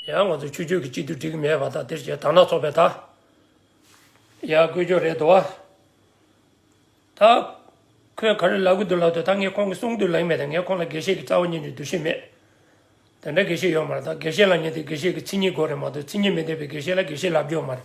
ཡང་ང་ཚོ་ཆུ་ཆོས་ཀྱི་གཅིག་ཏུ་བསྒྲིགས་མེད་པ་དང་དེར་བྱས་དག་ན་ཚོགས་པའི་དག། ཡང་དཀོན་མཆོག་རེད་དོ། ད། ཁོས་ག་རེ་ལབ་གི་འདུག་ལབ་དུས་ད་ངས་ཁོང་གི་གསུང་དུ་ལེགས་མེད་དང་ངས་ཁོང་ལ་དགེ་བཤེས་ཀྱི་རྩ་བ་ཉིད་ནས་འདུ་ཤེས་མེད། དེ་འདྲ་དགེ་བཤེས་ཡོད་མ་རེད་ད་དགེ་བཤེས་ལ་ཉན་དུས་དགེ་བཤེས་ཀྱི་ཚིག་ཉིད་གོ་རེད་མ་གཏོགས་ཚིག་ཉིད་མི་ལྡན་པའི་དགེ་བཤེས་ལ་དགེ་བཤེས་ལབ་རྒྱུ་ཡོད་མ་རེད།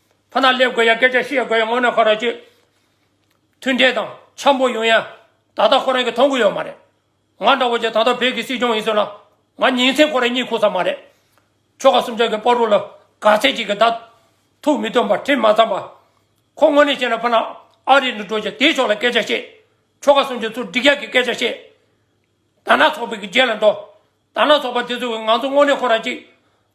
ཕ་ནག་སླེབས་དགོས་ཡ་སྐད་ཆ་བཤད་དགོས་ཡ་སྔོན་ན་ཁ་རོག་གཅིག་མཐུན་འབྲེལ་དང་འཆམ་པོ་ཡོང་ཡ་ད་ལྟ་ཁོ་རང་གི་མཐོང་གི་ཡོད་མ་རེད་ང་འདྲ་བོ་ཅིག་ད་ལྟ་བོད་ཀྱི་སྲིད་སྐྱོང་ཡིན་ཟེར་ན་ང་ཉིན་མཚན་ཁོ་རང་གཉིད་ཁུག་ས་མ་རེད་ཁྱོ་ག་སུམ་ཅག་གི་པར་རུ་ལ་ག་ཚད་ཅིག་གི་བརྡ་ཐུག་མི་ཐོན་པར་ཁྲིམས་མ་བརྩམས་པ་ཁོ་དངོས་གནས་བྱས་ན་ཕ་ནག་ཨ་རི་ནས་འགྲོ་ཅིག་དེའི་ཕྱོགས་ལ་སྐད་ཆ་བཤད་ཁྱོ་ག་སུམ་ཅུ་ཚུར་འགྲིག་ཡ་གི་སྐད་ཆ་བཤད་དར་ནག་ཚོགས་པའི་གི་རྗེས་ལ་འགྲོ་དར་ནག་ཚོགས་པ་དེ་ཚོ་གི་ང་ཚོ་དངོས་གནས་ཁོ་རང་གཅིག་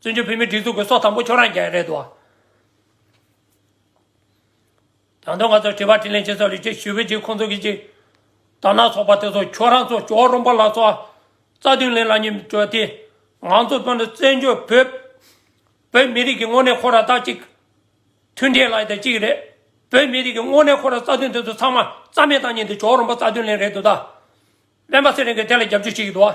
བཙན་བྱོལ་བོད་མིའི་སྒྲིག་འཛུགས་ཀྱི་སྲོག་དང་པོ་ཁྱོད་རང་རྒྱལ་རེད་དོ། དང་ཐོག་ང་ཚོར་དྲི་བ་དྲིས་ལན་བྱེད་ས་ལུས་ཅེ་ཞུ་བའི་རྗེས་ཁོང་ཚོ་གིས་ཀྱི། དར་ནག་ཚོགས་པ་དེ་ཚོ་ཁྱོད་རང་ཚོ་ཇོ་རོང་པ་ལགས་ཚོ། རྩ་དོན་ལེན་ལ་ཉིན་བཅོལ་ཏེ། ང་ཚོ་བཙོན་དུ་བཙན་བྱོལ་བོད། བོད་མི་རིགས་ཀྱི་དངོས་གནས་ཁོ་ར་ད་ཅིག། མཐུན་འབྲེལ་ལ་ཡི་ད་ཅིག་རེད། བོད་མི་རིགས་ཀྱི་དངོས་གནས་ཁོ་ར་རྩ་དོན་དེ་ཚོ་ཚང་མ་རྩ་མེད་བཏང་ཉིན་དེ་ཇོ་རོང་པ་རྩ་དོན་ལེན་རེད་དོ་ད། སྨན་པ་ཚེ་རིང་གིས་དེ་ལ་རྒྱབ་སྐྱོར་བྱེད་ཀྱི་འདུག་བ།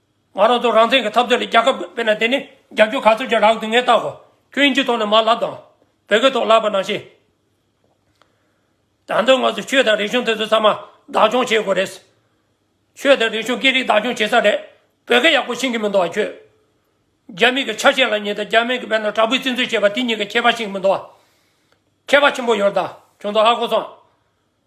ང་རང་ཚོ་རང་བཙན་གྱི་འཐབ་རྩོད་ལ་རྒྱལ་ཁབ་དཔེར་ན་དེ་ནི་རྒྱབ་སྐྱོར་ག་ཚོད་ཀྱི་རག་དུས་ངས་བརྟག་གོ། ཁྱོད་ཨིན་ཇིའི་ཐོག་ནས་མར་ལབ་དང། བོད་སྐད་ཐོག་ལབ་པ་ནང་བཞིན། ད་དོན་ང་ཚོས་ཆོས་དང་རིག་གཞུང་དེ་ཚོ་ཚང་མ་བདག་སྐྱོང་བྱེད་དགོས་རེད། ཆོས་དང་རིག་གཞུང་སྐད་རིགས་བདག་སྐྱོང་བྱེད་ས་རེད། བོད་སྐད་ཡག་པོ་ཤེས་ཀྱི་མི་འདུག་བ་ཁྱོད། རྒྱ་མི་གི་ཆ་ཤས་ལ་ཉེ་དང་རྒྱ་མི་གི་བེད་ན་དྲག་པོའི་བཙིར་འཛུལ་བྱེད་པ་དེ་གཉིས་ཀྱི་ཁྱད་པར་ཤེས་ཀྱི་མི་འདུག་བ། ཁྱད་པར་ཆེན་པོ་ཡོད་རེད་ད་ཁྱོད་ཚོ་ཧ་གོ་སོང།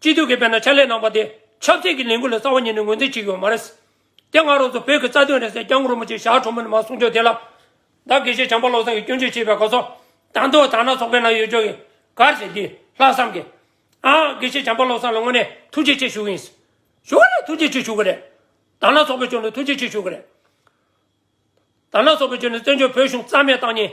སྤྱི་འཐུས་ཀྱི་དཔེར་ན་ཕྱག་ལས་གནང་པ་དེ་ཆབ་སྲིད་ཀྱི་ལས་འགུལ་ལས་གསར་བ་ཉིད་ནས་ངོས་འཛིན་བྱེད་ཀྱི་ཡོད་མ་རེད། དེ་སྔ་རོགས་ཚོ་བོད་ཀྱི་རྩ་དོན་རེད་ཟེར་སྐྱབས་མགོན་རིན་པོ་ཆེ་ཞག་གྲོང་མི་རྣམས་གསུང་ཆོས་དེ་ལ། བདག་དགེ་བཤེས་བྱམས་པ་བློ་བཟང་གིས་སྐྱོན་བརྗོད་བྱས་པའི་གོ་ཚོགས། དང་ཐོག་དག་སྣང་ཚོགས་པའི་ནང་ཡོད་ཆོག་གི། ག་རེ་བྱས་དེ་ལྷག་བསམ་གྱིས། ཨང། དགེ་བཤེས་བྱམས་པ་བློ་བཟང་ལ་དངོས་གནས་ཐུགས་རྗེ་ཆེ་ཞུ་གི་ཡིན། ཞུ་གི་རེད་ཐུགས་རྗེ་ཆེ་ཞུ་གི་རེད། དག་སྣང་ཚོགས་པའི་ཕྱོགས་ནས་ཐུགས་རྗེ་ཆེ་ཞུ་གི་རེད། དག་སྣང་ཚོགས་པའི་ཕྱོགས་ནས་བཙན་བྱོལ་བོད་གཞུང་རྩ་མེད་བཏང་ཉིན།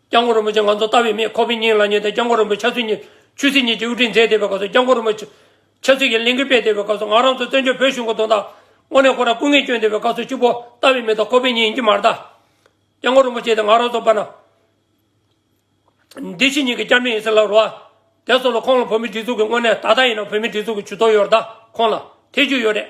སྐྱབས་མགོན་རིན་པོ་ཆེ་ང་ཚོ་ལྟ་བའི་མིས་ཁོ་བོའི་སྙིང་ལ་ཉེ་སྟེ་སྐྱབས་མགོན་རིན་པོ་ཆ་ཚུལ་གཉིས། ཆོས་སྲིད་གཉིས་ཀྱི་དབུ་ཁྲིད་མཛད་བསྡད་པའི་སྐབས་སུ་སྐྱབས་མགོན་རིན་པོ་ཆེ་ཚུལ་གྱིས་གླིང་གི་དཔེ་བལྟས་པའི་སྐབས་སུ་ང་རང་ཚོ་བཙན་བྱོལ་བོད་གཞུང་གི་དོན་དག་དངོས་གནས་ཁོ་རང་སྐུ་ངལ་བསྐྱོན་བསྡད་པའི་སྐབས་སུ་གཅིག་པོ་ལྟ་བའི་མི་དང་ཁོ་བོའི་སྙིང་ཉི་མ་ལྟ། སྐྱབས་མགོན་རིན་པོ་ཆེ་དེ་ང་རང་ཚོ་བར་ན་འདི་ཕྱི་གཉིས་ཀྱི་སྐྱབས་གནས་ཡིན་ཟེར་ལབ་རོགས་ཨ། དེ་སོགས་ལ་ཁོང་ལ་བོད་མིའི་སྒྲིག་འཛུགས་ཀྱི་དངོས་གནས་ད་ལྟ་ཡིན་ན་བོད་མིའི་སྒྲིག་འཛུགས་ཀྱི་ཇུས་གཏོགས་ཡོད་རེད་ད་ཁོང་ལ་ཐེ་ཇུས་ཡོད་རེད།